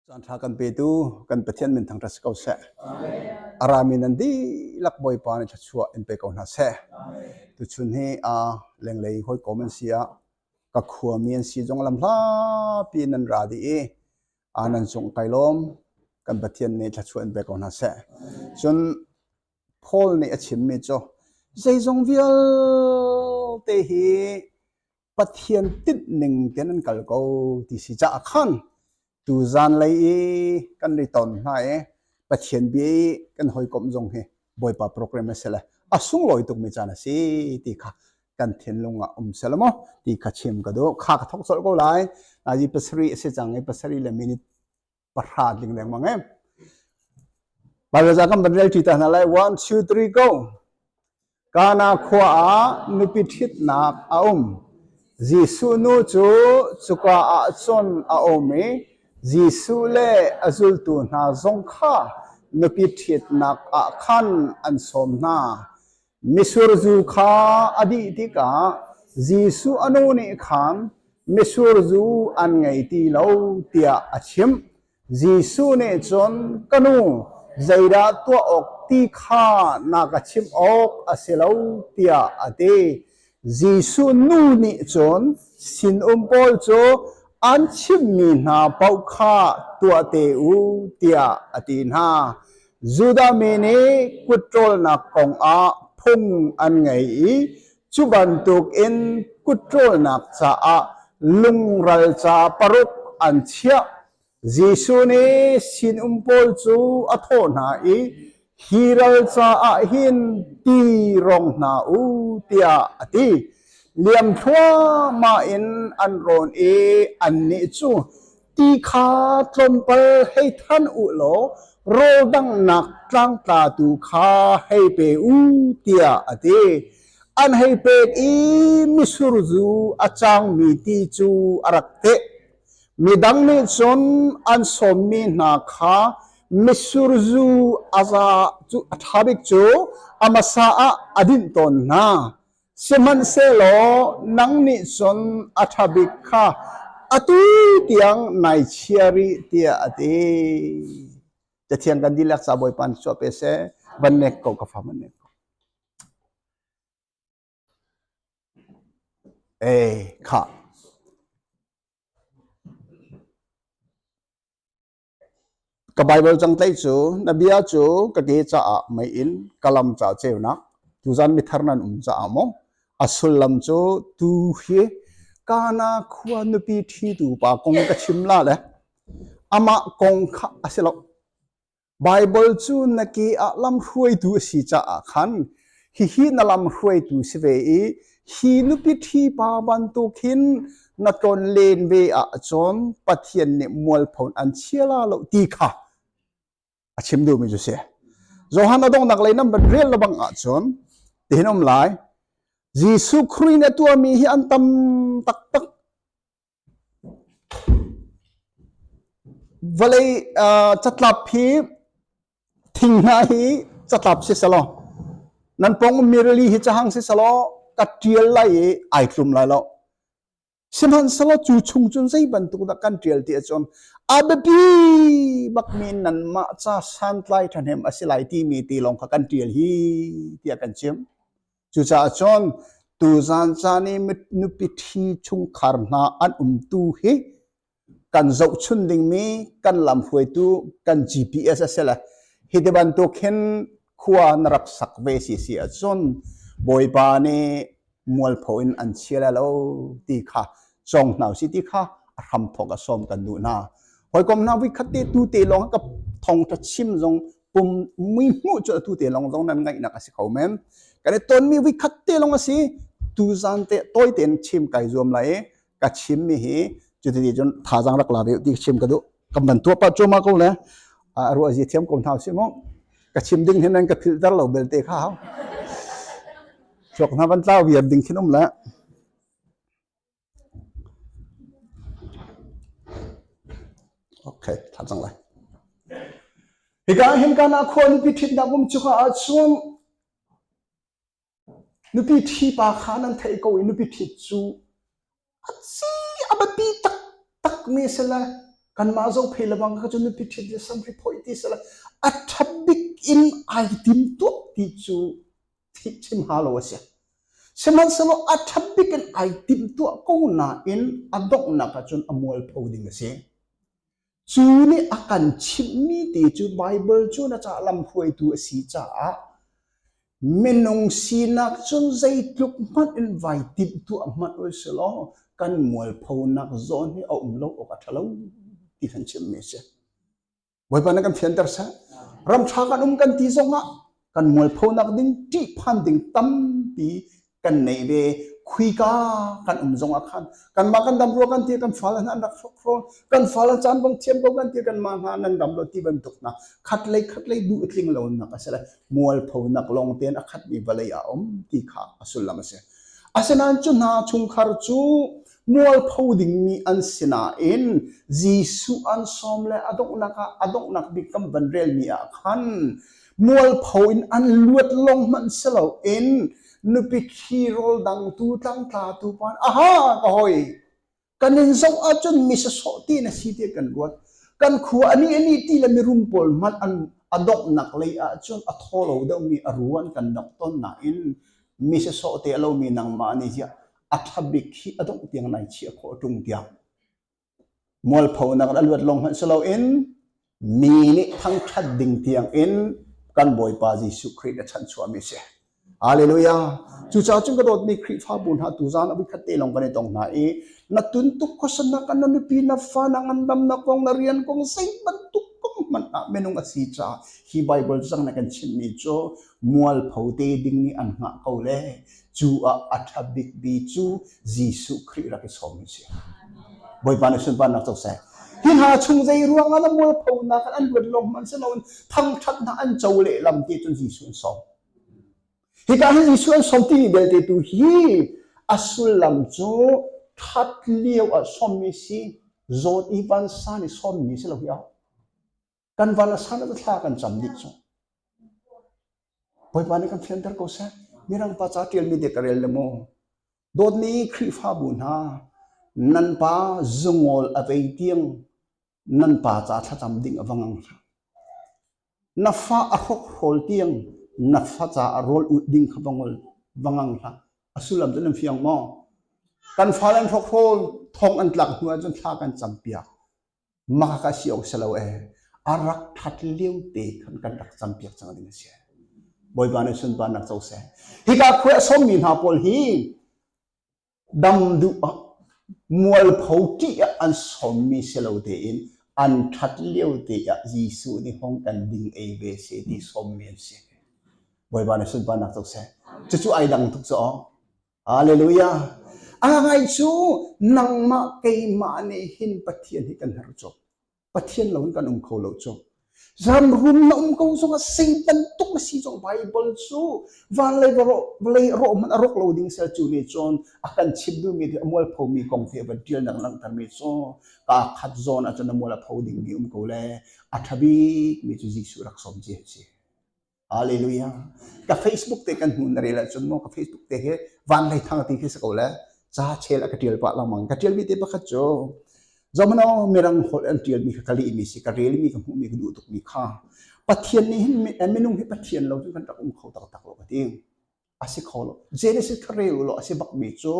Caanṭha kan petu kan Pathian minthang ṭha si ko seh. A rami nan dihlak Bawipa nih thluachuah in pe ko hna seh. Tuchun hi a lenglei hawikom an si a ka khuami an si zong lam hlapi nan ra dih i a nan cung kai lawm kan Pathian nih thluachuah in pe ko hna seh. Cun Paul nih a chimmi cu zeizong vialte hi Pathian tinh ning ten an kal ko ti si caah khan tu zan lei i kan ri ton hna i Pathian bia i kan hawikom zong hi Bawipa program a si le a sunglawi tukmi caan a si ti kha kan thinlung ah um sel maw ti kha chim ka do kha ka thok sol ko lai nazi pasari a si cang i pasari le minute pahra ding lengmang em Pareza kan ban rel ta hna lai 1 2 3 go Kana khua ah nupi ṭhitnak a um Jesuh nu cu cuka ah cun a um i Jesuh le a zultu hna zong kha nupi ṭhitnak ah khan an sawm hna Mitsur zu kha a dih tikah Jesuh a nu nih khan mitsur zu an ngei ti lo tiah a chimh. Jesuh nih cun ka nu zeidah tuah awk ti kha na ka chimh awk a si lo tiah a ti. Jesuh nu nih cun sinum pawl cu an chimmi hna paoh kha tuahte u tiah a ti hna. Judah mi nih kut ṭawlnak kongah phung an ngei i cu bantukin kut ṭawlnak caah lungral ca paruk an chiah. Jesuh nih sinum pawl cu a thawh hna i, Hi ral caah hin ti rong hna u, tiah a ti. Liam thluahmah in an rawn i annih cu, Ti kha tlawmpal hei than u law rawldanghnak tlangtlatu kha hei pe u, tiah a ti. An hei pek i misur zu a cangmi ti cu a rak teh. Midang nih cun an sawmmi hna kha misurzu a za cu a ṭha bik cu a hmasa ah a dinh tawn hna. Sihmanhsehlaw nang nih cun a ṭha bik kha atu tiang ngaichia rih tiah a ti. Cathiang kan dihlak ca Bawipa nih cuah pe seh. Van nek ko ka fa van nek ko. Ei khah! Ka Baibal cangtleih cu na bia cu ka ke caah mei in ka lam ca ceunak, tuzan mithar nan um caah maw? A sullam cu tu hi Kana khua nupi ṭhitu pa kong ka chim la le amah kong kha a si lo. Baibal cu na ke ah lamhruaitu a si caah khan hihi na lamhruaitu si ve i hi nupi ṭhipa bantuk hin na tlon len ve ah cun Pathian nih mualpho an chiala lo ti kha a chim duhmi cu si. Johan a donghnak lei nan van rel lebang ah cun tihin um lai. Jesuh Khrih nih a tuahmi hi an tam taktak Vawlei catlap hi thinghnah hi catlap siselaw nan pong mirli hi cahang siselaw ka ṭial lai i ai tlum lai lo. Sihmanhsehlaw cu chung cun zei bantuk dah kan ṭial ti ahcun a biapi bakmi nanmah ca santlai ṭhahnem a si lai timi ti lawng kha kan ṭial hi tiah kan chim. Cucaah cun tuzan caan i nupi ṭhi chungkhar hna an umtu hi kan zohchun dingmi kan lamhruaitu kan GPS a si le hi ti bantuk hin khua na rak sak ve si si ahcun bawipa nih mualpho in an chia lo ti kha cong hna si ti kha a hram thawk a sawm kan duh hna hawikom hna vui khat te tu te lawng ka thongtha chim zong pum muihmuh cu atu te lawng zong nan ngaihnak a si kho men kan i tonmi vikhat te lawng a si tuzan te tawi tein chim kai zuam lai i ka chimmi hi cuti cun thazang rak la ve ti chim ka duh kan van tuah pa cuma ko le a ruah zia thiam ko hna si mu ka chim ding hin nan ka filter lo belte kha hau chok hna van tlau viar ding khin um le Hika ah hin kan ah khua nupi ṭhitnak um cu ka ahcun nupi ṭhipa kha nan theih ko i nupi ṭhit cu a ci a biapi taktakmi si le kanmah zoh phei le bang kha cu nupi ṭhit le samhri phoih ti si le a ṭha bik in ai tim tuak ti cu thih chim ha lo a si. Sihmanhsehlaw a ṭha bik in ai timhtuah ko nain a donghnak ahcun a mualpho ding a si. Cu nih a kan chimhmi te cu Baibal cu na caah lamhruaitu a si caah minung sinak cun zeitluk hmanh in vai timhtuah hmanh ui si law kan mualphonak zawn hi a um lo awk a ṭha lo ti kan chimmi a si. Bawipa na kan fianter seh. Ramṭha kan um kan ti zongah kan mualphonak ding ṭihphan ding tampi kan nei ve khuika kan um zongah khan kanmah kan dam ruang kan ti kan fal hna an rak khrawl kan fal chan bang thiam ko kan ti kanmah hna nan dam lo ti bantuk na khat lei khat lei du tling lo nak a si le mualphonak lawng ten a khat mi vawlei a om ti kha a sullam a si asinain cu hna chungkhar cu mualpho dingmi an si nain Jesuh an sawm le a donghnak ah a donghnak bik kan van relmi ah khan mualpho in an luat lawng hmanh si loin nupi khi rawl dangtu tlangtlatu pan aha ka hoi kan in zoh ahcun misa sawh ti na si tiah kan ruat kan khua ani ani ti le mirum pawl hmanh an a donghnak lei ahcun a tho lo deuhmi a ruan kan dongh ton nain misa sawh te a lomi nangmah nih ziah a thabik hi a dongh tiang nai chiah khawh a ṭung tiang mualpho nak in a luat long hmanh si loin mi nih thangṭhat ding tiang in kan Bawipa Jesuh Khrih a chanh chuahmi a si. Hallelujah. Cucaah cun ka dawtmi Khrihfabu hna tu zan a khat te long kan i tong hna i na tun tuk khosan na kan na nupi na fa na ngandam na kong na rian kong zei bantuk kong hmanh ah minung a si ca hi Bible zang na kan chimmi cu mualpho te ding nih an ngah ko le Cu ah a ṭha bikmi cu Jesuh Khrih rak i sawm an si. Bawipa nih sunparnak co seh. Hi hna chung zei ruangah na mualphonak an luat lawng man si loin thangṭhatnak an co lehlam ti cun Jesuh an sawm. Hika hi Jesuh an sawm timi belte tu hi a sullam cu ṭhat lio ah sawmmi si, zawt i vansan i sawmmi si lo hi a kan val a san a thla kan cam dih cu bawipa nih kan fianter ko seh mirangpa ca ṭialmi dek ka rel le maw dawtmi khrihfabu hna nan pa zungol a vei tiang nan pa ca thlacam ding a vang ang na fa a hok hol tiang na fa ca a rawl ut ding kha vangol vangang hla a sullam cu nan fiang maw kan fa len hrok hrol thong an tlak hnu ahcun thla kan cam piak Maka si lo si lo ee a rak that lio te khan kan rak cam piak cang ding a si. Bawipa nih sunparnak co seh. Hika khua a sawmmi hna pawl hi dam duh ah mualpho ṭih ah an sawmmi si lo tein an that lio te ah Jesuh nih hong kan ding ei ve se ti sawmmi an si. Bawipa nih sunparnak co seh. Cucu ai dang tuk cu aw. Hallelujah! Agai cu nangmah keimah nih hin Pathian hi kan herh tuk. Pathian lo in kan um kho lo tuk. Zan rum na um ko zong ah Satan tuk na si zong Bible cu van lei vawlei rawh hmanh a rawk lo ding sel cu ni cun a kan chim duhmi ti a mual phomi kong te va tial nang langhtermi cu ka khat zawn ah cun a mual a pho dingmi um ko le a ṭha bikmi cu Jesuh rak som ci a si. Hallelujah. Ka Facebook te kan hnu na rel ahcun maw ka Facebook te hi van lei thang ti khi si ko le ca chel a ka tial pah langmang ka tial mi te pakhat cu zomano mirang hol an tial mi ka kali mi si ka rel mi ka hmu mi ka duh tuk mi kha pathian nih hin minung hi pathian lo cu kan rak um kho tak tak lo ka ti asi kho lo genesis ka rel lo asi bak mi cu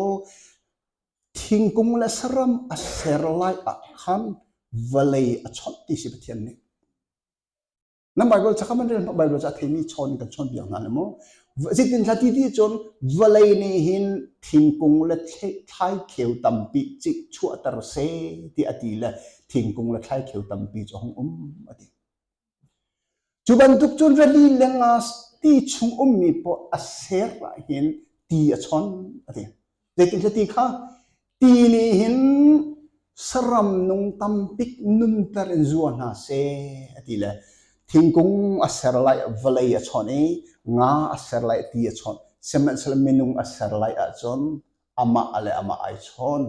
thingkung le saram a ser lai ah khan vawlei a chawt ti si pathian nih nan bible cha kha man bible cha theimi chawn in kan chawn biak hna le mu zitin hlati ti cun vawlei ni hin thingkung le thlai kheu tampi cik chuahter se ti ati le thingkung le thlai kheu tampi cu hong um ati cu bantuk cun rali lengas ti chung ummi po a ser lah hin ti a chon ati zetin hlati kha Ti nih hin saram nung tam bik nunter in zua hna seh a ti le thingkung a ser lai vawlei a chawnh i nga a ser lai ti a chawnh sihmanhsehlaw minung a ser lai ahcun amah le amah ai chawn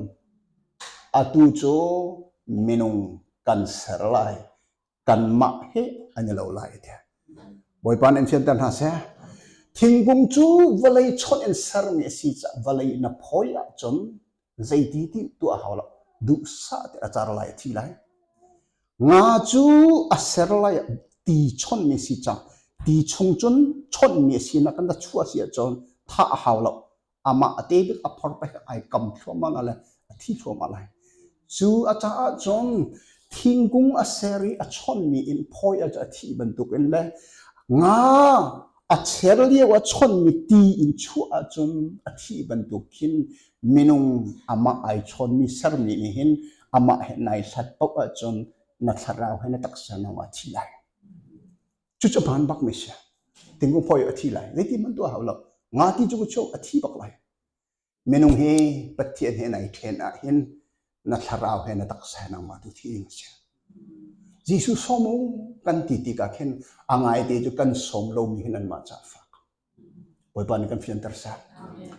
atu cu minung kan ser lai kanmah he an i lo lai ti. Bawipa nih in fianter hna seh. Thingkung cu vawlei chawnh in sermi a si caah vawlei na phawi ahcun zeiti ti tuah hau lo duhsah ti a car lai a thi lai. Nga cu a ser lai ti chawnmi si cang ti chung cun chawnmi a si na kan da chu a si ahcun thah a hau lo amah a te bik a phor pek ai kam thluahmah le a thi thluahmah lai cu a caah cun thingkung a ser i a chonmi in phawi a thi bantukin le nga a cher lio a chonmi ti in chuah ahcun a thi bantuk khin minung amah ai chonmi sermi nih hin amah he nai hlat paoh ahcun na thlarau he na taksa no a thi lai cu cu van bak me sia tingu phoi a thi lai zei ti man tuah hau lo nga ti chu chu a thi bak lai minung hi pathian he nai then ah hin na thlarau he na taksa nang ma tu thi ding sia Jesu somu kan ti ti ka khen angai te chu kan som lo mi hin an ma cha fa Bawipa nih kan fianter seh.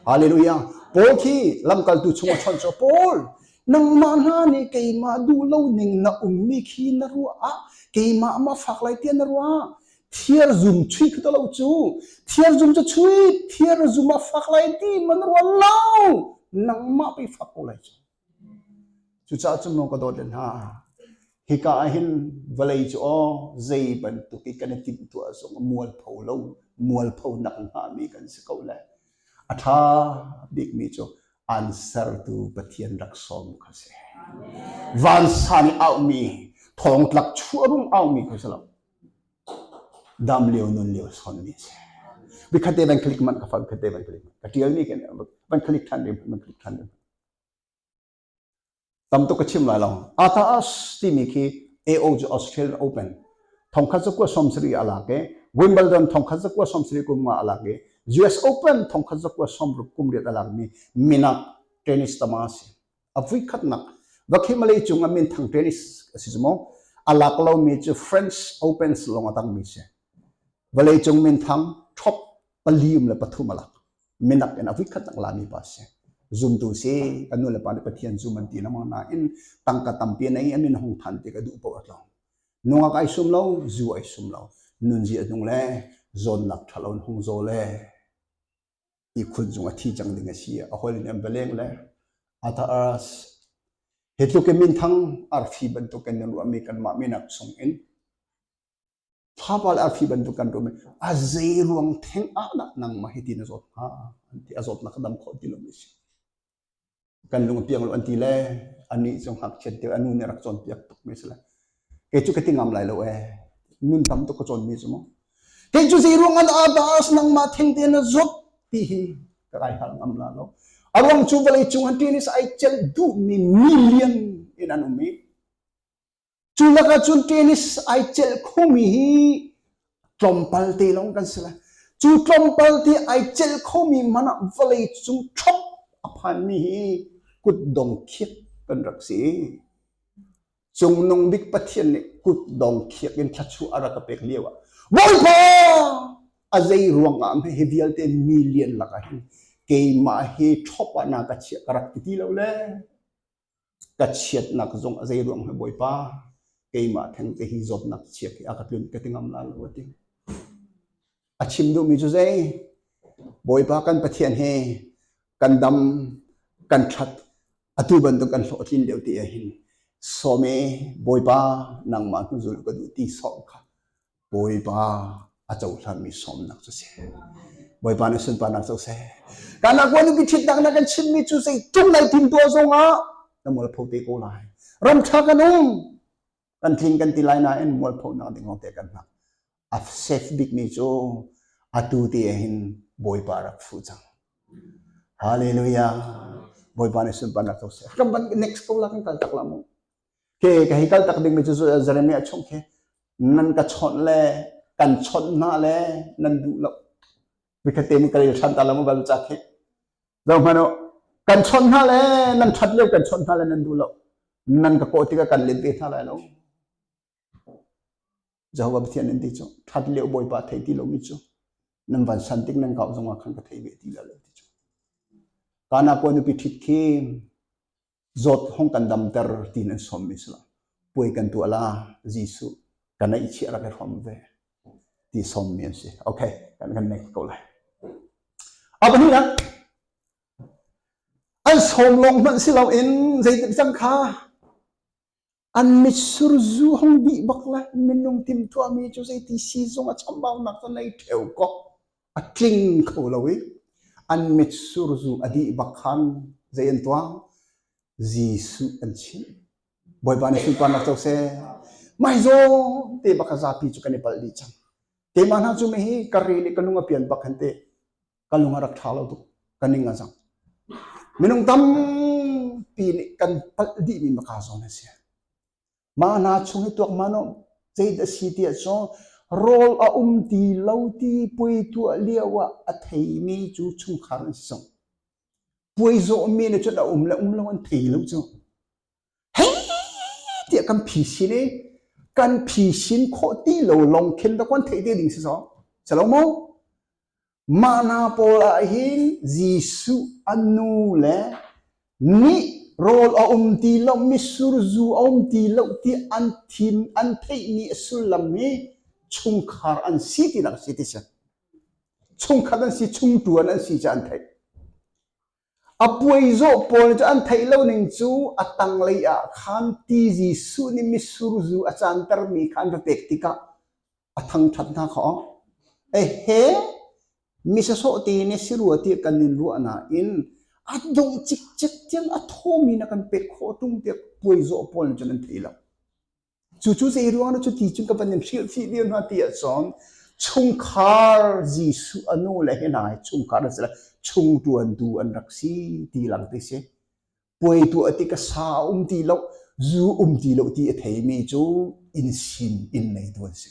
Hallelujah. Paul khi lamkaltu chung a chawnh cu Paul nangmah hna nih keimah duh lo ning na ummi khi na ruah ah keimah ma fak lai tiah na ruah thiar zum chui khi lo cu thiar zum cu chui thiar zum a fak lai ti man rual lo nangmah pe fak ko lai cu Cucaah cu maw ka dawt le hna, hika ah hin vawlei cu aw zei bantuk i kan i timhtuah zong a mualpho lo, mualpho nak hngami kan si ko le. A ṭha bikmi cu ansartu Pathian rak sawm kha si. Vansan i aumi, thongtlak chuarum aumi kha si lo. Dam lio nun lio sonmi si. Bi khatte van click man ka fan khatte van click man. Ka ṭialmi ke van click ṭhan rim, van click ṭhan rim. Tam tuk ka chim lai lo. Ataas timi khi AO cu Australia Open thongkhat cu kua sawmsarih a lak i Wimbledon thongkhat cu kua sawmsarih kum nga a lak i US Open thongkhat cu kua sawmruk kum riat a lakmi minak tennis tama a si. A vui khatnak va khi Malay cung ah min thang tennis a si cu maw? A lak lomi cu French Opens lawng a tangmi si. Vawleicung minthang top pali um le pathum a lak. Minak in a khat nak lami pa si. Zumtu si, kan nu le pa nih Pathian zum an ti na na in tangka tampi nei an in hong than te ka duh po atlong. Nunga kai sum lo, zu ai sum lo. Nun zi anung le, zon nak thalon hong zo le. I khun zung a thi chang ding a si. A hol in beleng le. Ata aras. Hitlukin minthang arfi bantukin nan ruami kan ma minak sung in Fapa le arfi bantuk kan rum i a zeiruang theng ah dah nangmah hi ti na zawt hnga an ti a zawtnak ka dam khawh ti lo mi si kan lung a piang lo an ti le anih cu ngakchiat deuh a nu nih rak cawnpiak tuk mi si le kei cu ka ti ngam lai lo e nun tam tuk ka cawn mi cu mu kei cu zeiruang an abas nangmah theng te na zop ti hi ka kai har ngam la lo a ruang cu vawlei cung an ṭin i ai celh duh mi million in an um i Cu lakah cun tennis ai celh khomi hi tlawmpal te lawng kan si lai. Cu tlawmpal te ai celh khomi man ah vawlei cung ṭhop a phanmi hi kutdong khiak kan rak si. Cungnung Bik Pathian nih kutdong khiak in thlachuah a rak ka pek lio ah Bawipa a zei ruangah meh hi vialte million lakah hin keimah hi ṭhop ah na ka chiah ka rak ti ti lo le ka chiatnak zong a zei ruang he Bawipa keimah theng te hi zawtnak chia khi a ka tlun ka ti ngam la lo ti a chim duhmi cu zei Bawipa kan Pathian he kan dam kan that atu bantuk kan hlawhtlin leo ti hin some Bawipa nangmah hnu zul ka duh ti sawm kha Bawipa a cohlanmi sawmnak cu si. Bawipa nih sunparnak cu si. Kan akua nupi ṭhitnak na kan chimmi cu zei tung nai tim tuah zongah na mualpho te ko lai. Ram ṭha kan um. Kan tling kan ti lai nain mualphonak ding lawngte kan hmang. A sef bikmi cu atu te hin Bawipa rak fuh cang. Hallelujah. Bawipa nih sunparnak cu si. Ram ban next ko la kan kal tak la mu. Ke ka hei kal tak dingmi cu Jeremiah chung khi nan ka chawnh le kan chawnh hna le nan duh lo vikhatte ni ka rel than ta lo mu bal ca khi zo hmano kan chawnh hna le nan that lio kan chawnh hna le nan duh lo nan ka kawh tikah kan len te hna lai lo Jehovah Pathian nan ti cu that lio bawipa thei ti lomi cu nan van san tik nan kau zongah khan ka thei ve ti lo ti cu kana ko nupi thit khi zawt hong kan damter ti nan sawmmi si lo puai kan tuah la Jesuh ka neih chiah rak i hrom ve ti sawmmi an si okay kan kan neck ko lai a pahnihnak an sawm lawng hmanh si loin zeitik cang kha An mitsur zu hong dih bak lai. Minung timhtuahmi cu zeiti siizung a chambaunak cu nei ṭheu kok a tling kho lo i an mitsur zu a dih bak khan zei an tuah? Jesuh an chimh. Bawipa nih sunparnak co seh. Maizaw te bak a zapi cu kan i palh dih cang. Keimah hna cu mi hi ka rin i ka lung a pian bak khan teh ka lung a rak ṭha lo tuk ka ning a zang minung tampi nih kan palh dihmi maka zawn a si mah hna chung hi tuak mano ceit a si ti ahcun rawl a um ti lo ti puai tuah lio ah a theimi cu chungkhar an si zong puai zawhmi ne cun a um le um lo an thei lo cu hei tiah kan phi sin i kan phi sin khawh ti lo lawng khin rak kan theih te ding si so si lo mu mana pawl ah hin Jesuh an nu le nih rawl a um ti lo misur zu a um ti lo ti an thim an theihmi a sullam hi chungkhar an si ti nak si ti si chungkhat an si chungtuan an si ca an theih A puaizawh pawl cu an theih lo ning cu a tanglei ah khan ti Jesuh nih mitsur zu a cantermi kha an ra pek tikah a thangṭhat hna kha awk. E he misasawh te ne si rua tiah kan in ruah nain a dongh cikcek tiang a thawmi na kan pek khawh ṭung tiah puaizawh pawl cun an theih lo. Cucu zei ruangah cu ti cun ka van in hrilhfih lio hna ti ahcun chungkhar Jesuh a nu le hi hna hi chungkhar an si le chung ṭuan tu an rak si ti lang ti si. Puai tuah ti ka sa a um ti lo, zu um ti lo ti a theimi cu inn sin inn neitu an si.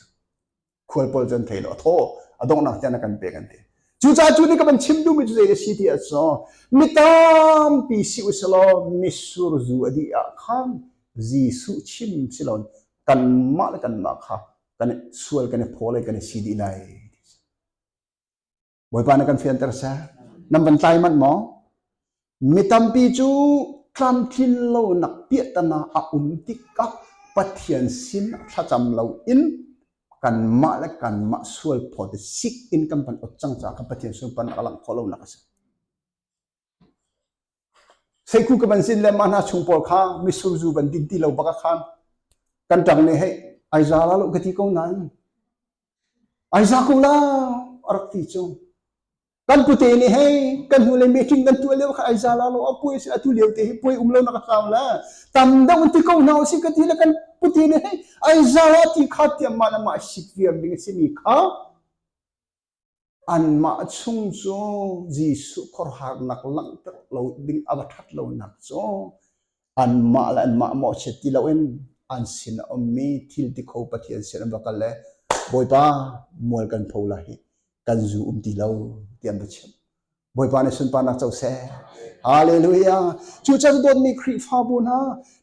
khualpawl cu an thei lo a thaw a donghnak tiang kan pe kan ti cucaah cu nih ka van chim duhmi cu zei si ti ah so mi tampi si usilaw misur zu a dih ah khan Jesuh chim silon kanmah le kanmah kha kan sual kan i phaw le kan i si dih lai Bawipa na kan fianter seh. Nan van tlai manh maw? Mi tampi cu tlamtlin lo nak piahtana a um tikah Pathian sin thlacam lo in kanmah le kanmah sual phaw te sik in kan van ot cang caah ka Pathian sunpan a ka langh khawh lo nak a si. Seikhu ka van zin le mah hna chung pawl kha mitsur zu van din ti lo bak ah khan kan ṭang nih hei ai za la loh ka ti ko nain ai za ko la a rak ti cu. Kan pute nih hei kan hnu le meeting kan tuah lio kha ai za la lo a puai si a tu lio te hi puai um lo nak a kau la tam dong ti ko na si ka ti le kan pute nih hei ai za la ti kha tiam ma na ma sik viam ding a si mi kha Anmah chung cu Jesuh khuarharnak langhter lo ding a va ṭhat lonak cu anmah le anmah mawhchiat ti loin an sin a ummi thil tikho Pathian sin an va kal le Bawipa mual kan pho lai hi kan zu um ti lo ti an va chimh. Bawipa nih sunparnak co seh. Hallelujah. Cu chan dawtmi Khrihfabu hna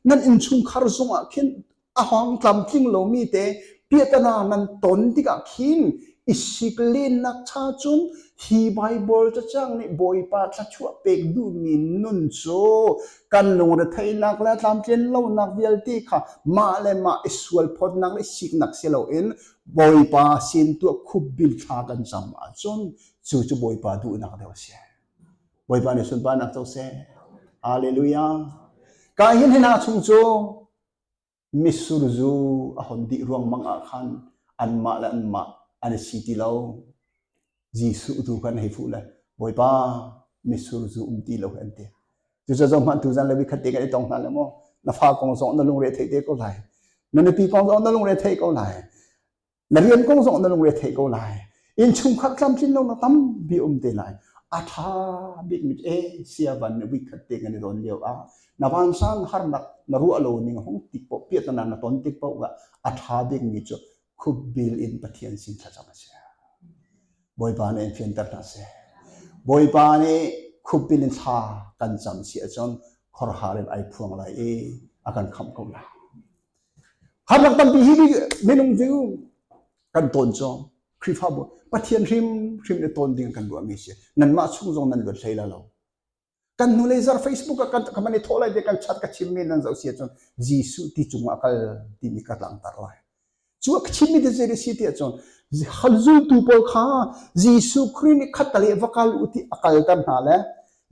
nan innchungkhar zungah khin a hawng tlamtling lomi te piatana nan ton tikah khin i siklennak cha cun hi Bible cacang nih Bawipa thluachuah pek duhmi nun cu kan lungretheihnak le tlamtlin lonak vialte kha mah le mah i sualphawtnak le siknak si loin Bawipa sin tuah khupbil thla kan cam ahcun Cu cu Bawipa duhnak deuh a si. Bawipa nih sunparnak co seh. Hallelujah. Ka hin hina chung cu mitsur zu a hon dih ruangmang ah khan anmah le anmah an i si ti lo. Jesuh tu khan hei fuh le Bawipa mitsur zu um ti lo an ti. Cucaah hmanh tu zan le vikhat te kan i tong hna le maw na fa kong zong na lungre theih te ko lai na nupi kong zong na lungre theih ko lai na rian kong zong na lungretheih ko lai innchungkhar tlamtlin lo na tampi um te lai a tha bik mit e sia van ne wik khat te kan don lio a na van sang har nak na ruah lo ning hong tik po piat na na ton tik po ga a tha bik mi chu khub bil in pathian sin tha cham se boipa ne in fian tar na se boipa ne khub bil in tha kan cham si a chon khor haril ai phuang lai e akan kham ko la Khamhnak tampi hi minung cu kan tawn cawng. Khrihfabu Pathian hrimhrim i tawn ding kan ruahmi si. Nanmah chung zong nan luat hlei la lo. Kan hnu lei zar Facebook ah kan kan man i thawh lai kan chat ka chimmi nan zoh si ahcun Jesuh ti cung ah kal timi ka langhter lai. Cu a chimmi ti zei si ti ahcun zultu pawl kha Jesuh Khrih nih khat le va kal u ti a kalter hna le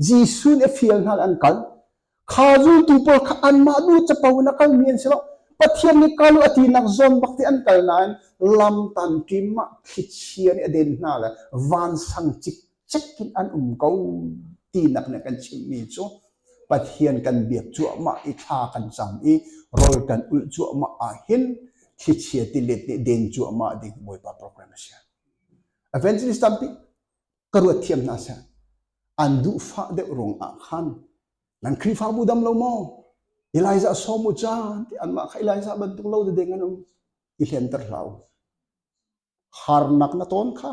Jesuh nih a fial hna le an kal. Kha zultu pawl kha anmah nu capo in a kalmi an si lo. Pathian nih kalu a tinak zawn bak te an kal nain lam tamkim ah thlichia nih a den hna le vansang cikcek in an um ko tinak nih kan chimmi cu Pathian kan biak cuahmah i thla kan cam i rol kan ulh cuahmah ah hin thlichia tilet nih den cuahmah ding Bawipa program a si. Evangelist tampi ka ruat thiam hna seh an duh fah deuh ruang ah khan nan Khrihfabu dam lo maw Elijah sawm u ca ti anmah kha Elijah bantuk lo dede ngan um i hlianter hlau harnak na ton kha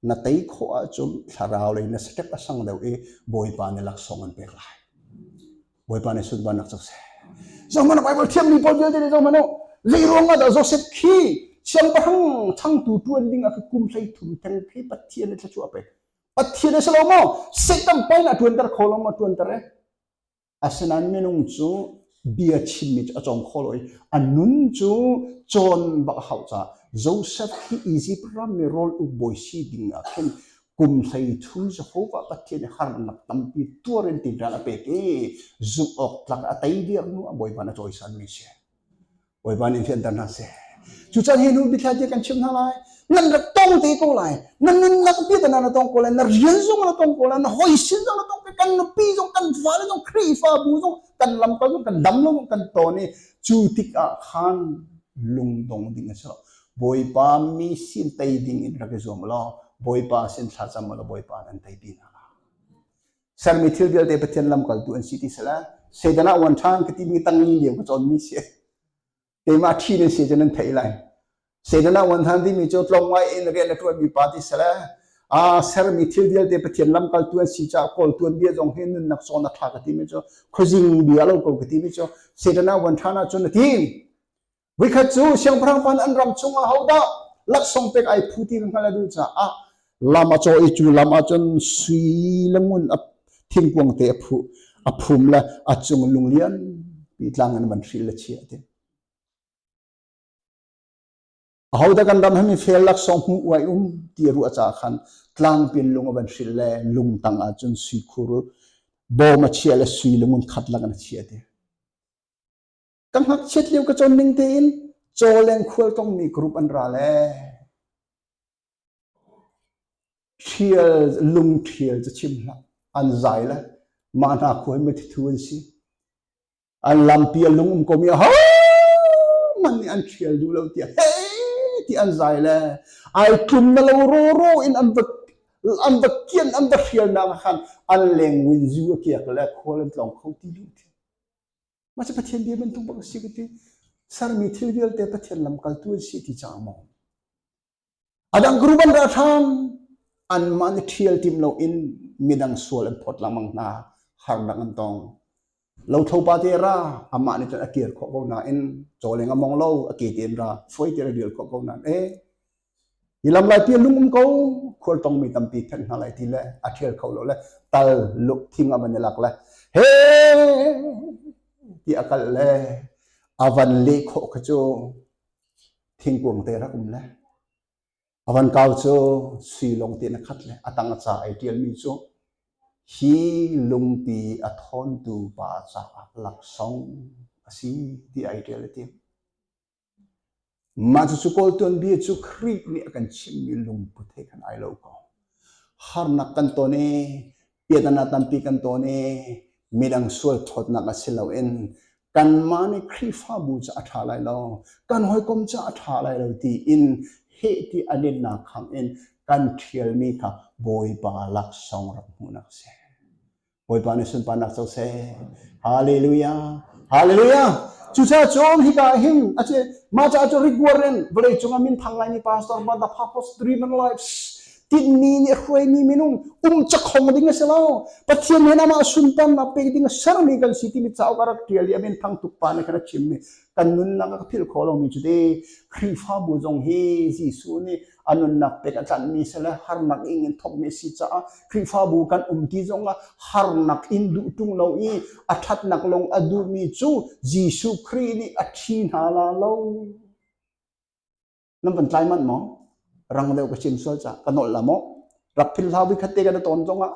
na tei khawh ahcun thlarau lei na stek a sang deuh i bawipa ne laksawng an pek lai Bawipa nih sut ban nak cak se. Zong man Bible thiam mi paul vialte nih zong man lei ruang ah da Joseph khi siang parang changtu tuan ding a kum hlei thum theng phi pathian tla chu ape pathian a selo mo satan pai na tuan ter kho long ma tuan ter e asenan minung chu bia chim mi a chong kholoi anun chu chon bak hau cha Joseph hi easy pram mi role u boisi ding a khen Kum hleichun Jehovah Pathian i harnak tampi tuar in tinṭan a pek i zumh awk tlak a tei diaknu a Bawipa na cawisanmi si. Bawipa nih fianter hna seh. Cucaan hi hnu bithla tia kan chimh hna lai. Nan rak tong te ko lai. Na nunnak pi ta na tong ko lai. Na rian zong na tong ko lai. Na hoi sin zong na tong ko. Kan nupi zong, kan fale zong, Khrihfabu zong, kan lamkal zong, kan dam zong, kan ton i cu tik ah khan lungdong ding a si lo. Bawipa mi sin tei ding in rak i zuam law Bawipa sin thlacam law Bawipa nan tei pi hna. Sermi thil vialte Pathian lamkaltu an si ti sala Satan ah wan ṭhan ka timi tangi liam ka cawn mi si. Keimah ṭhi nan si cun nan thei lai. Satan ah wan ṭhan timi cu tlong ngai in rian a ṭuan mi pa ti sala a sermi thil vialte Pathian lamkaltu an si ca kawl tuan bia zong hin nunnak sawn a ṭha ka timi cu khuazing bia lo ko ka timi cu Satan ah wan ṭhan ah cun a tim. Voikhat cu siangpahrang pan an ram chungah hodah laksawng pek ai phu ti hngal a duh caah lam a caw i cu lam ah cun sui le ngun a thingkuang te a phu a phum le a cung lung lian pi tlang in man hril le chia te ahoda kan ram hemi fel laksawng hmu uai um ti ru a ca khan tlang pin lung a van hril le lung tang ah cun sui khur bawm a chia le sui le ngun khat lang an a chia te ka ngakchiat lio ka cawn ning tein caw leng khual tongmi group an ra le ṭhial lung ṭhial cu chim hlah an zai le mah hna khual me thu an si an lampi a lung um komi ha man nih an ṭhial duh lo tiah hei ti an zai le ai tlum na lo ro ro in an va an va kian an va hrial nak khan an leng win zu a kiak le khual an tlong kho ti lu Mah cu Pathian bia bantuk bak a si ka ti. Sermi thil vialte Pathian lamkaltu an si ti cang maw? A dang group an ra hram. Anmah nih ṭhial tim loin midang sual an phawt lengmang hna. Harnak an tong. Lothlo pa te ra, amah nih cun a kir khawh ko nain caw leng a mong lo, a ke tein ra, fuai tein a rial khawh ko nain, e, Hi lam lai pi a lung um ko khual tongmi tampi phek hna lai ti le a ṭhial kho lo le tal luk thing a van i lak le he ti a kal le a van leh khawh kha cu thingkuang te rak um le a van kau cu sui lung te na khat le a tang a ca ai ṭialmi cu hi lungti a thawntu pa caah laksawng a si ti ai ṭial a tiang. Mah cucu Kawl tuanbia cu Khrih nih a kan chimhmi lungput he khan ai lo ko. Harnak kan ton i piahtana tampi kan ton i midang sual thawtnak a si loin kanmah nih Khrihfabu cu a ṭha lai lo, kan hawikom cu a ṭha lai lo tiin heh ti a linnak khangin kan ṭhialmi kha Bawipa laksawng rak hmuhnak a si. Bawipa nih sunparnak co seh. Hallelujah. Hallelujah. Cuca cun hika hin aci maca cu rigwaren vawlei cungah min thang lai ni pastor but the purpose driven lives tinmi nih hruaimi minung um chakhong ding a si lo pathian he nama sunparnak pek ding a sermi kan si timi cauk a rak tial i amen thang tuk pa nih khan a chimmi kan nunnak a ka philh khawh lomi cu te Khrihfabu zong hi Jesuh nih a nunnak pek a tlanhmi si le harnak ing in thawkmi si caah Khrihfabu kan um ti zong ah harnak in duh tung lo i a thatnak lung a duhmi cu Jesuh Khrih nih a thi hna la lo. Nan van tlai manh maw? Rang deuh ka chim sual ca. Ka nolh la maw? Rak philhlau vi khatte ka na ton zong ah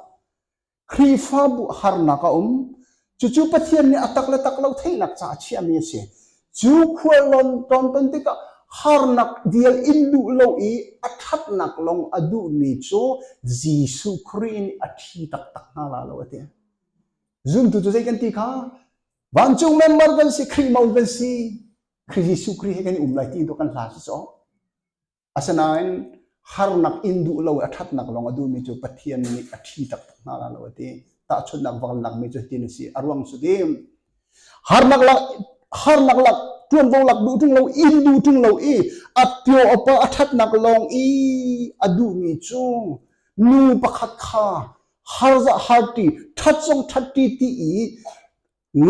Khrihfabu harnak a um. Cucu Pathian nih a tak le tak lo theihnak caah a chiahmi a si. Cu khuallon ton ton tikah harnak dial in duh lo i a thatnak lawng a duhmi cu Jesuh Khrih nih a thi taktak hna la lo a ti. Zumtu cu zei kan ti kha vancung member kan si Khrih mo kan si Khrih Jesuh Khrih he kan i um lai ti tu kan hla si caw. Asinain harnak in duh lo a ṭhatnak lawng a duhmi cu Pathian nih a ṭhi taktak hna lai lo a ti. Tahchunhnak vaknakmi cu hitin a si a ruang cu dim harnak lak harnak lak ṭuanvo lak duh ṭung lo in duh ṭung lo i a pio a pa a ṭhatnak lawng i a duhmi cu nu pakhat kha harza harti ṭhat song ṭhat ti ti i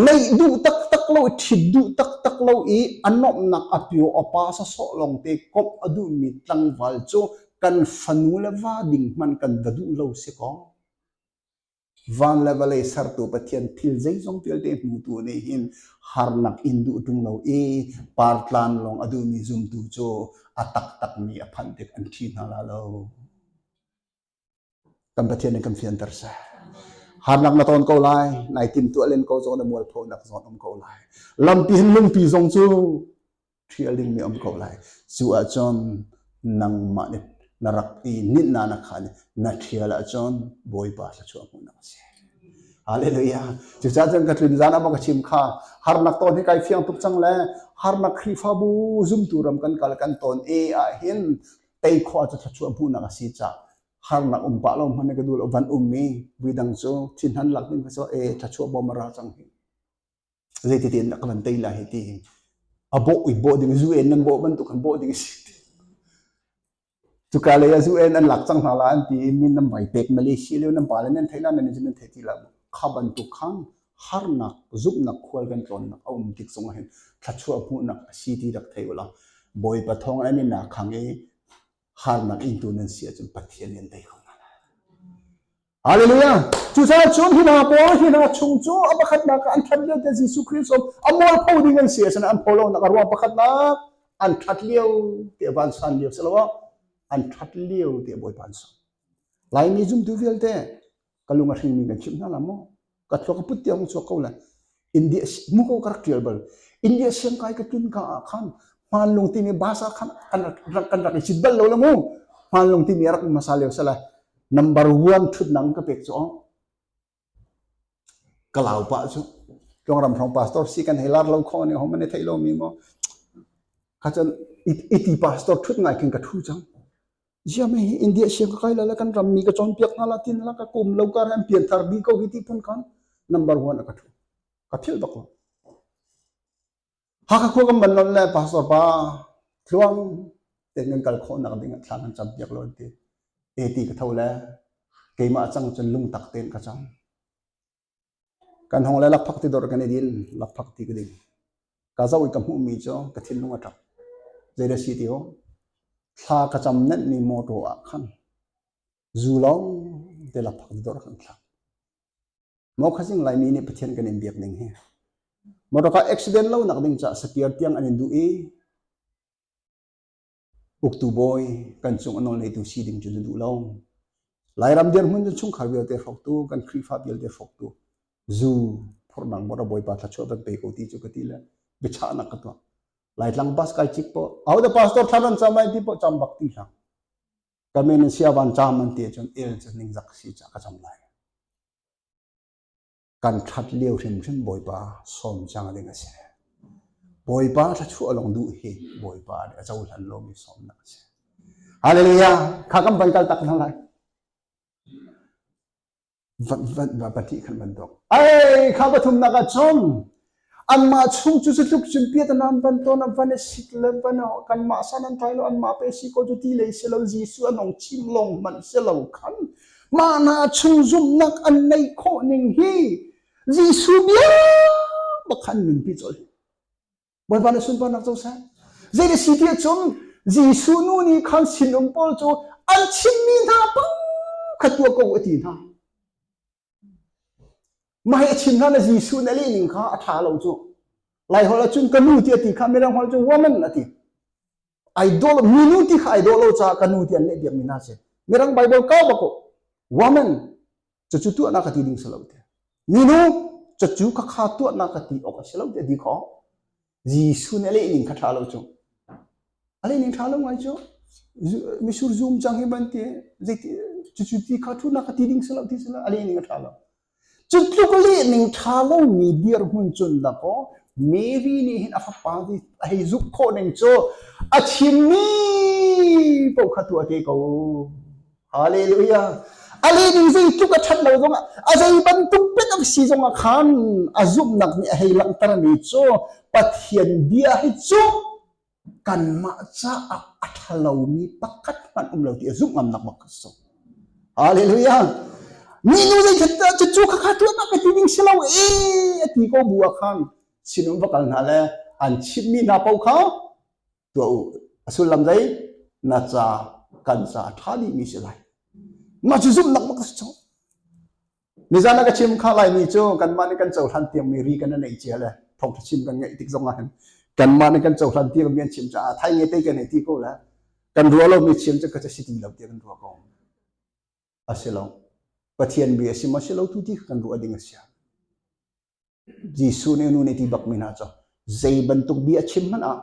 Ngeih duh taktak lo, ṭhit duh taktak lo i a nuamhnak a pio a pasa sawh lawngte komh a duhmi tlangval cu kan fanu le va ding hmanh kan va duh lo si kaw. Van le vawlei sertu Pathian thil zeizong vialte hmutu nih hin harnak in duh ṭung lo i partlan lawng a duhmi zumtu cu a taktakmi a phanh tik an ṭhi hna la lo. kan Pathian in kan fianter seh. Harnak na ton ko lai, nai timtuah len ko zong na mualphonak zong um ko lai. Lampi hin lungpi zong cu ṭhial dingmi um ko lai. Cu ahcun nangmah nih na rak i nit na na khan na ṭhial ahcun Bawipa thla chuahmuhnak a si. Hallelujah. Cucah cun ka tlun zan ah ka chim kha harnak ton hi kai fiang tuk cang le harnak Khrihfabu zumtu ram kan kal kan ton e ah hin tei khawh cu thluachuah hmuhnak a si cah harnak um pah lo hmanh ka duh lo van um mi vidang cu thinhan lak ding ka so e thluachuah bom ra cang hi zeiti in ka van tei la hi ti a bo i bo ding UN nan bo bantuk kan bo ding si tu ka le ya UN an lak cang hna la an ti min nan mai pek Malaysia le nan pa le nan thailand nan nan thai ti la kha ban tu khang harnak zumhnak khual kan tlawnnak a um tik zong hin thluachuah hmuhnak a si ti rak thei ula bawipa thawng an in khang i harnak ingtu nan si ahcun pathian in dei kho Hallelujah! Cu caah cun hi hna pawl hi hna chung cu a pakhatnak an ṭhat lio te Jesuh Christ um a mualpho ding an si a sanan an pho lo nak a ruang pakhatnak an ṭhat lio te van san lio si lo an ṭhat lio te bawi pan sa Laimi zumtu vialte ka lung a hringmi kan chimh hna la maw ka thluak a put tiang chuak ko le India mu ko ka rak tial bal India siang kai ka tun ka ah khan hmanlung ti mi basa khan kan rak kan rak i sit bal lo la mu hmanlung ti mi rak masa leo sala number one thut nang ka pek chu kalau pa chu trong ram trong pastor si kan helar lo kho ne hom ne thei lo mi mo kha chan iti pastor thut ngai kin ka thu chang Ziami hi India siangka kai la la kan ram mi ka cawnpiak hna la tin la ka kum lo kar an pian thar bi ko hi ti phun khan number one ka thu ka thil bak lo Hakha khua kan ban lon le pastor pa thluang ten kan kal khawh nak ding thlan kan cham piak lo ti eti ka tho le keimah chang cun lung tak ten ka chang Kan hawng le lakphak ti dor kan i din. Lakphak ti ka ding. Ka zoh i ka hmuhmi cu ka thinlung a ṭap. Zei da si ti ho? Thla ka cam nenhmi mawṭaw ah khan zu lawng te lakphak ti dor kan thlak. Mo khazing laimi nih Pathian kan in biak ding hi. Motor ka accident lo nak ding caah sapiar tiang an in duh i Uktu bawi kan cung a nawlngeitu si ding cu na duh lo. Lairam dirhmun cu chungkhar vialte hrawktu kan Khrihfa vialte hrawktu zu phurnang mora bawipa thlachuah kan pe ko ti cu ka ti le biachahnak ka tuah laitlang bus kai cik po au da pastor thlaran cham ai ti po cham bak ti hlang ka men in sia van cham an ti cun el cu ning zak si cha ka cham lai kan ṭhat lio hrimhrim Bawipa sawm cang ding a si. Bawipa thluachuah lawng duh hi Bawipa nih a cohlan lomi sawmnak a si. Hallelujah! Kha kan van kal tak hna lai. Van, van, van pahnih kan van dok. Ai, kha pathumnak ah cun Anmah chung cu cutluk cun piat a nam van tawn, van a sit le van a kanmah san an thai lo, anmah pe si ko cu ti lei si lo, Jesuh an ong chim lawng hmanh si lo khan mah hna chung zumhnak an neih khawh ning hi Jesuh bia bakhan nunpi col. Bawipa na sunparnak co sang. Zeiti si ti cun Jesuh nu nih khan sinum pawl cu an chimmi hna pang kha tua ko a ti hna. Mahhi a chin hlan ah Jesuh nih a leh ning kha a ṭha lo cu. Laiholh ahcun ka nu tiah a ti kha Mirang holh cu woman a ti. Idol, minu ti kha idol lo caah ka nu tiah an leh piakmi hna a si. Mirang Bible kau bak uh. Woman, cucu tuahnak a ti ding si lo te. Minu, cucu ka kha tuahnak a ti awk a si lo tiah a ti khawh. Jesuh nih a leh ning kha ṭha lo cu. A leh ning ṭha lo ngai cu. Mitsur zum cang hi banti zeiti cucu ti kha ṭhunak kha ti ding si lo ti si lo a leh ning a ṭha lo. Cu tluk leh ning ṭha lomi dirhmun cun dakaw Mary nih hin a fapa a hei zumh khawh ning cu a chimmi paoh kha tuah te ko. Hallelujah. A le nih zeitluk a ṭhat lo zongah, a zei bantuk biatak si zongah khan a zumhnak nih a hei langhtermi cu Pathian bia hi cu kanmah caah a ṭha lomi pakhat hmanh um lo ti a zumh ngamnak bak a si. Hallelujah. Minu zeikhat dah cucu kha kha ṭuannak ka ti ding si lo e a ti ko bu ah khan sinum va kal hna le an chimmi hna paoh kha tuah u a sullam zei na ca kan ca a ṭha dih mi si lai mah cu zumh nak bak a si cang nizan a ka chim kha lai ni cu kanmah nih kan cohlan tiang mi ri kan nei cia le thawngṭha chim kan ngaih tik zong ahhin kanmah nih kan cohlan tiang mi an chim caah thai nge te kan ei ti ko le kan ruah lo mi chim cu ka ca si ti lo tiang kan ruah ko a si lo pathian bi a si ma si lo tu ti kan ruah ding a si Jesuh nih a nu nih ti bak mi hna cu zei bantuk bia a chim hmanh ah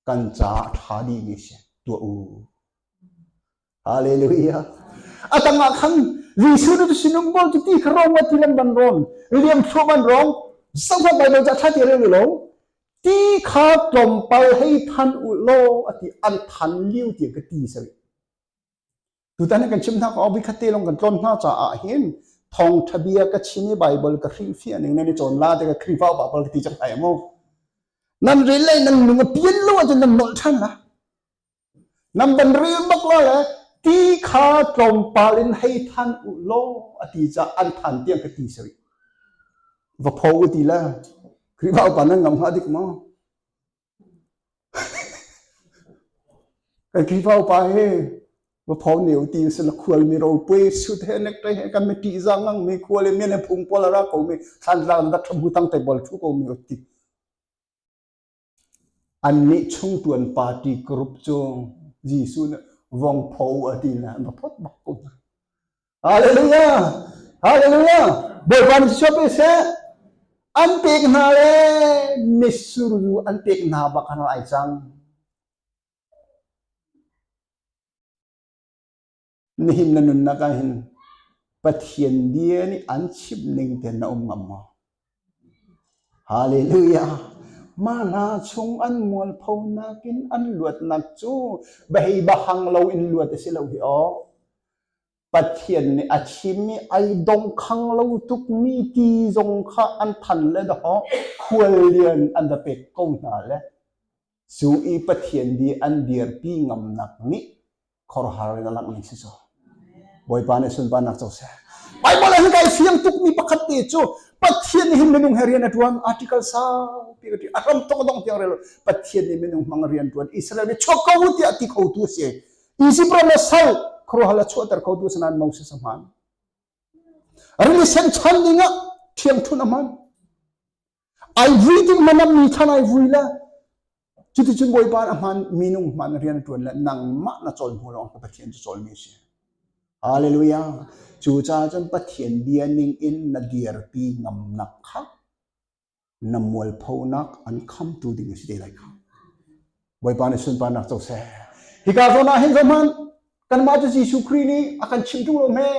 kan caah ṭha dihmi si tuah u. Hallelujah. A tangah khan Jesuh nih sinum bol cu ti kha rom ti lam ban rom liam thluak an rom sangha Bible ca ṭha ti reng ni lo ti kha tlawmpal hei than u law ati an than liu ti ka ti sawi Tutan kan chim hna ko khat te lawng kan tlawn hna caah hin thawngtha bia ka chim i Bible ka hrihfiah ning nan i cawn la te ka Khrihfa pa pal ti chak ai mu nan ril le nan lung a pian lo ahcun nan nolh than la nan ban ril bak la le ti kha tlawmpal in hei than u law a ti ca an than tiang ka ti sari va pho ti la Khrihfa pa nan ngam ha dik maw Kan Khrihfa upa hi va phau neu ti in na khual mi ro pue sut he nek te he kan me ti zang ngang mi khual i men phung pol ra ko mi thlan tlang da tham hu tang te bol thu ko mi oti an nih chung tuan party group cu Jesuh ne vong pho a ti na ma phot bak ko Hallelujah! Hallelujah! Bawipa nih suap i seh. An pek hna le misurzu an pek hna bak an ai cang. Nihin na nunnak ah hin Pathian dia nih an chimh ning ten na um ngam maw? Halleluja! Mah hna chung an mualpho nakin an luatnak cu beheibahang loin luat a si lo hi aw. Pathian nih a chim i ai dongkhang lo tukmi ti zong kha an than le dawh, khual lian an va pek ko hna le. Cu i Pathian di an dirpi ngamnak nih khuarhar in a langh ning si cu. Bawipa nih sunparnak co seh. Bible ah hika i fiang tukmi pakhat te cu Pathian nih hin minung he rian a tuan article sau pi ka ti a ram tok dong tiang rel Pathian nih minung mang rian tuan Israel mi chok ko u tiah ti khotu si Egypt ram la sal khuaruahhar la chuahter khotu sanan Moses a hman rili sen chan ding ah thiang thun a hman Ai vui ding man a mi chan ai vui le cuticun Bawipa a hman minung hman rian ṭuan le nangmah na cawn hnu lawng Pathian cu cawl mi a si. Hallelujah. Cu caah cun Pathian bia ning in na dirpi ngamnak kha na mualphonak an khamtu ding a si te lai kha. Bawipa nih sunparnak co seh. Hika zawn ah hin zohhmanh, kanmah cu Jesuh Khrih nih a kan chimh ṭung lo hme.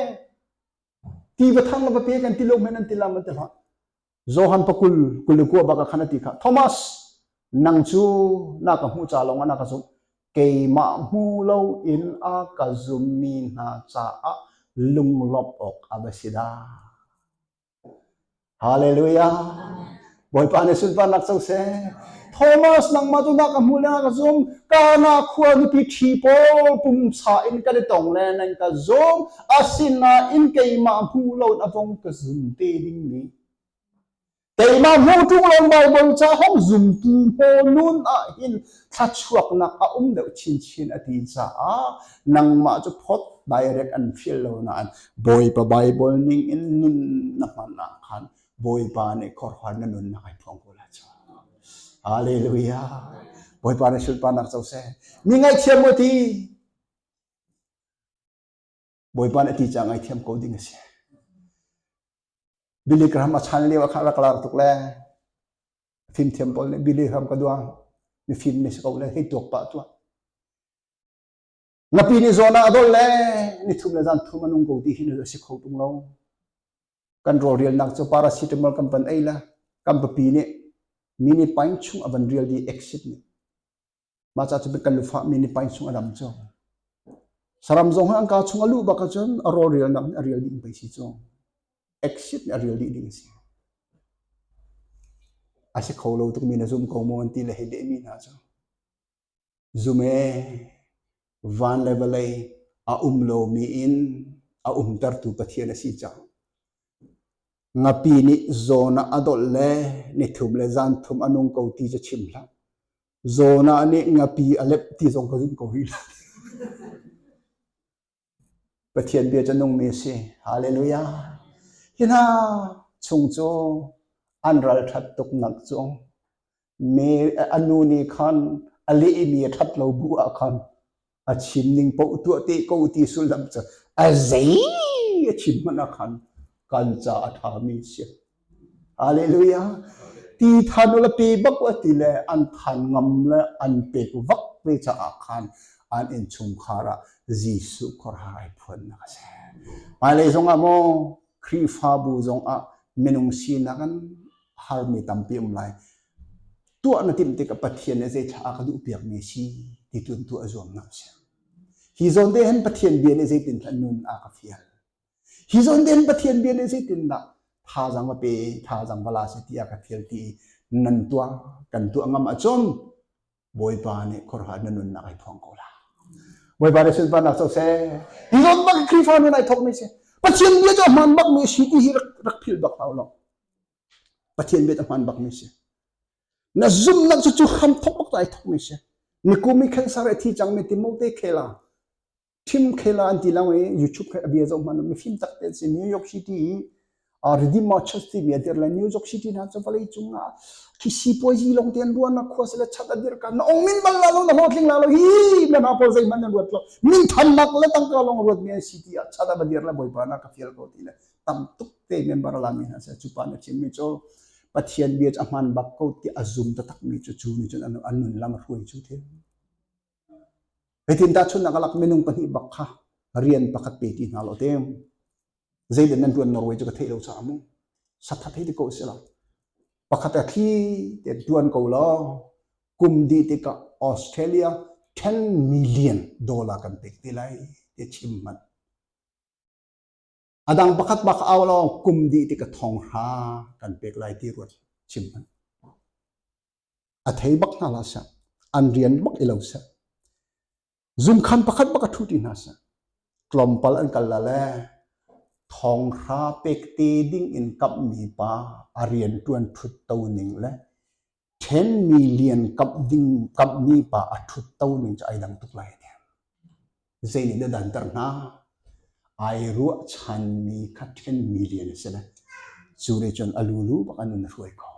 Tiva thang le va pe kan ti lo men an ti lam an ti hlah. Johan pa kul kul le kua bak a khan a ti kha. Thomas nang cu na ka hmu ca lawng ah na ka zumh. Keimah hmu lo in a ka zummi hna caah lunglawmh awk a va si dah. Hallelujah. Bawipa nih sunparnak co seh. Thomas nangmah tu nak ka hmu le ka zum kana khua nupi thi pawl pumsa in kan i tong le nan ka zum asinain keimah hmu lo na vong ka zum te ding ni keimah hmu ṭung lo Bible ca hong zumtu pawl nun ah hin thluachuaknak a um deuh chinchin a ti caah nangmah cu phot direct an feel lo nain Bawipa Bible ning in nun na hman ah khan Bawipa nih khorhwan na nun na kai phong ko la cha Hallelujah Bawipa na sulpa nak co se mi ngaithiam mu ti Bawipa nih ti ca ngaithiam ko ding a si. Billy Graham a chan lio ah khan rak lar tuk le fimthiam pawl nih Billy Graham ka duang mi fim ni si ko le hei tuak pah tuah. Napi ni zawn ah dol le ni thum le zan thum anung ko ti hi nu a si kho tung lo. Kan ro rial nak cu paracetamol kan pan ei la kan papi nih mini pint chung a van rial di exit ni mah ca cu kan lufah mi nih pain chung a dam cu saram zong an ka chung a lu bak cun a rawl rial nak a rial ding pei si cu exit a rial dih ding si a si kho lo tuk mi na zum ko mu an ti le hei le mi na cu zume van le vawlei a um lo mi in a um tertu pathian a si cang ngapi nih zawn a dol le ni thum le zan thum a nung ko ti cu chim hlah Zona nih ngapi a lep ti zong ka zumh ko rih lo. Pathian bia cu nungmi a si. Hallelujah. Hi hna chung cu an ralṭhat tuk nak cu me a nu nih khan a lehmi a ṭhat lo bu ah khan a chim ning paoh tuah te ko ti sullam cu a zei a chim hmana khan kan ca a ṭhami si haleluya ti than la pe bak wa ti le an than ngam le an pek vak ve caah khan an in chungkhar ah Jesuh khuarai phuannak a si hmailei zongah maw Khrihfabu zongah minung sinak an harmi tampi um lai tuah na timh tikah Pathian nih zeicah a ka duhpiakmi a si ti cu an tuah zuamnak a si. Hi zawn te hen Pathian bia nih zeitin hlan nun a ka fial. Hi zawn te hen Pathian bia nih zeitindah thazang va pe, thazang va la se ti a ka fial ti nan tuah, kan tuah ngam acum Bawipa nih khuaruahhar na nunnak ai phuang ko la. Bawipa nih sunparnak soseh. Hi zawn bak Khrihfa nun ai thawkmi si. Pathian bia cu a hmaan bakmi a si ti hi rak, rak philh bak hau lo. Pathian biak a hmaan bakmi si. Na zumhnak cu cu ham thok bak ai thokmi si. Nikum i cancer a thi cangmi Timote khela thim khela an ti lo i YouTube kha a bia zoh hman mi film tak te si New York City i Redeemer Church timi a dir le New York City na cu vawlei cung ah khisi puazi long ten ruan na khua sele chat adir ka na ong min bal la lo na lo tling la lo hi na na pol zei man na ruat lo min tham nak le tangka long ruat mi an city a chat abadir le boi pa na ka fial ko ti le tam tuk te member lami hna seh cu pa na chimmi cu Pathian bia cu a hman bak ko ti a zum taktak mi cu cu nih cun an nun lam a hruai cu thil Hitin tahchunnak alak minung pahnih bak kha rian pakhat pe ti hna lo te zeitin nan tuan Norway cu ka theih lo sa mu satha thei ti ko si la pakhat a thli te tuan ko lo kum di tika Australia 10 million dollar kan pek te lai te chim man A dang pakhat bak ka au lo kum dih ti ka thong hra kan pek lai ti ruat chim hman. A thei bak hna la sa an rian bak i lo sa zumkhan pakhat bak a thu ti hna sa tlawmpal an kal la le thong hra pek te ding in kap mi pa a rian tuan thut to ning le ṭhenmi lian kamhmi pa a ṭhutto ning cu ai dang tuk lai ne. Zeinih na danter hnga? Ai ruahchanmi kha ṭhenmi lian a si lai. Cu nih cun a lulu bak an nun a hruai ko.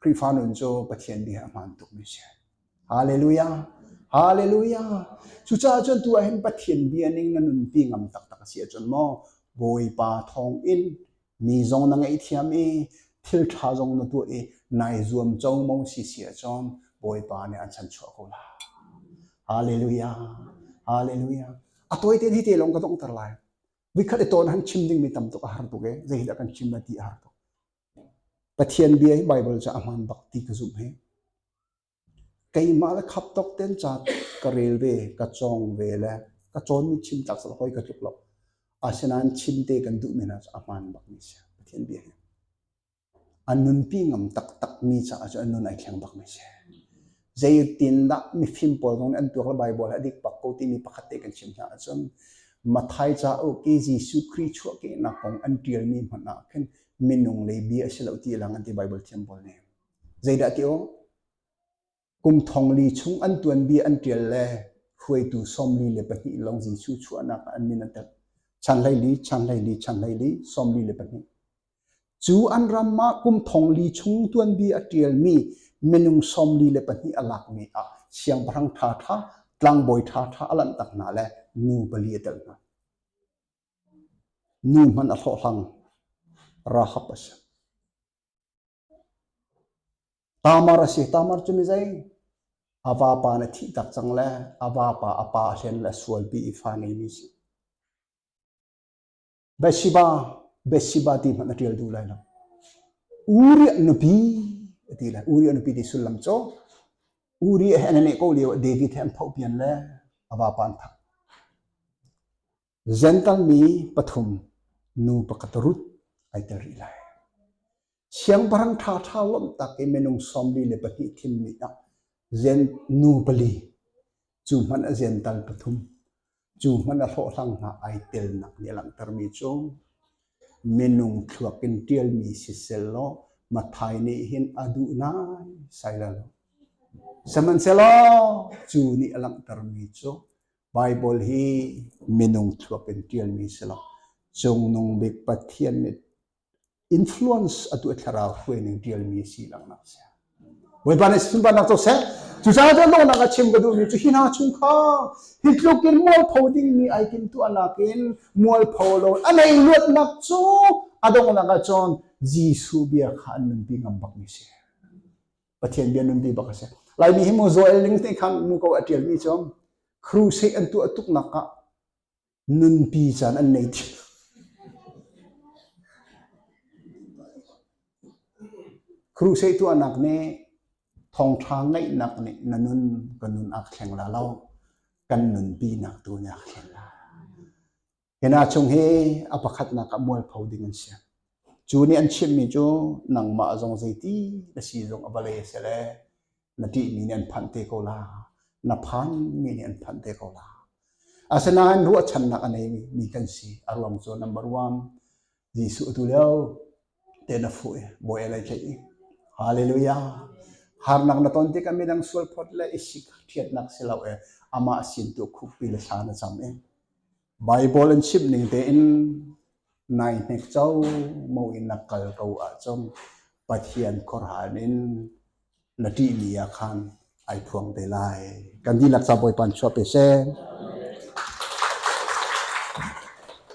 Khrihfa nun cu Pathian bia a hmaan tukmi a si. Halleluja! Halleluja! Cucaah cun tu ahhin Pathian bia ning na nunpi ngam taktak a si ahcun maw Bawipa thawngin Mi zong na ngeihthiam i thilṭha zong na tuah i nai zuam congmong si si ahcun Bawipa nih an san chuah ko lai. Hallelujah. Hallelujah. A tawite di te lawng ka dongter lai. Vikhat i ton han chim ding mi tam tuk a har tuk e. Zei dah kan chim na ti a har tuk. Pathian bia hi Bible cu a hmaan bak ti ka zumh he. Keimah le khap tawk ten ca ka rel ve, ka cawng ve le ka cawnmi chim tlak cu hawi ka tluk lo. Asinain chim te kan duh men ahcun a hmaan bakmi a si. Pathian bia hi. A nunpi ngam taktakmi caah cu a nun ai thleng bakmi a si. Zeitindah mifim pawl zong nih an tuak le Baibal hi a dik bak ko timi pakhat te kan chim hna ahcun Matthai cauk i Jesuh Khrih chuahkehnak kong an ṭialmi hmanh ah khin minung lei bia a si lo ti lang an ti Baibal thiam pawl nih. Zeidah ti awh? Kum thong li chung an tuan bia an tial le hruaitu sawmli le pahnih long Jesu chuahnak an min an tel. Chanhlei li, chanhlei li, chanhlei li, sawmli le pahnih. Cu an ram ma kum thong li chung tuan bia a tialmi minung sawmli le pahnih a lakmi ah siangpahrang tha tha, tlangbawi tha tha a lanh tak hna le nu pali a tel hna. Nu hman a hlawhhlang, Rahab a si. Taamar a si. Taamar cu mi zei? A vapa na thih tak cang le a vapa a pa hlen le sualpi i fa ngeimi a si. Bathsheba, Bathsheba ti hmanh na ṭial duh lai lo. Uri a nupi a ti lai. Uri a nupi ti sullam cu Uri he an i neh ko lio ah David he an phoh pian le a vapa an thah. Ziantalmi pathum nu pakhat rut ai tel rih lai. Siangpahrang ṭhaṭha lawmh tak i minung sawmli le pahnih thim nih ah zian nu pali, cu hmanh a ziantal pathum, cu hmanh a hlawhhlang hna ai telnak nih a langhtermi cu minung thluak in ṭialmi sisel law Matthai nih hin a duh nai sai lo. Sihmanhsehlaw cu nih a langhtermi cu Baibal hi minung thuak in ṭialmi si lo. Cungnung bik Pathian nih influence atu thlarau hruaining ṭialmi si langnak si. Bawipa nih sunparnak cu seh. Cucaah cun lawnak a chim ka duhmi cu hi hna chung kha hi tluk in mualpho dingmi ai kim tuahnak in mualpho lo a nei luatnak cu a donghnak ah cun Jesuh bia kha an nunpi ngam bakmi si. Pathian bia nunpi bak a si. Laimi hi mu Joel ning ti khan mu ko a tialmi cu crusade an tuah tuknak ah nunpi caan an nei thi. Crusade tuahnak nih thongtha ngeihnak nih na nun ka nun ak thleng la lo kan nunpi nak tu ni ak thleng la Hi hna chung hi a pakhatnak ah mualpho ding an si. Cu nih an chimmi cu nangmah zong zeiti na si zong a vale a si le na ṭihmi nih an phanh te ko la, na phanmi nih an phanh te ko la. Asinain ruahchannak a neimi mi kan si. A ruang cu number one, Jesuh atu lio te na fuh i bawi lai tlaih i Hallelujah harnak na ton tikah midang sual phot le i sik ṭhiatnak si lo e amah sin tu khukpi le thla na cam i Bible in chimh ning tein nai hnek cho mo in na kal ko ahcun Pathian khuarhan in na ṭih mi ah khan ai phuang te lai kan dihlak sa bawi pan chuah pe se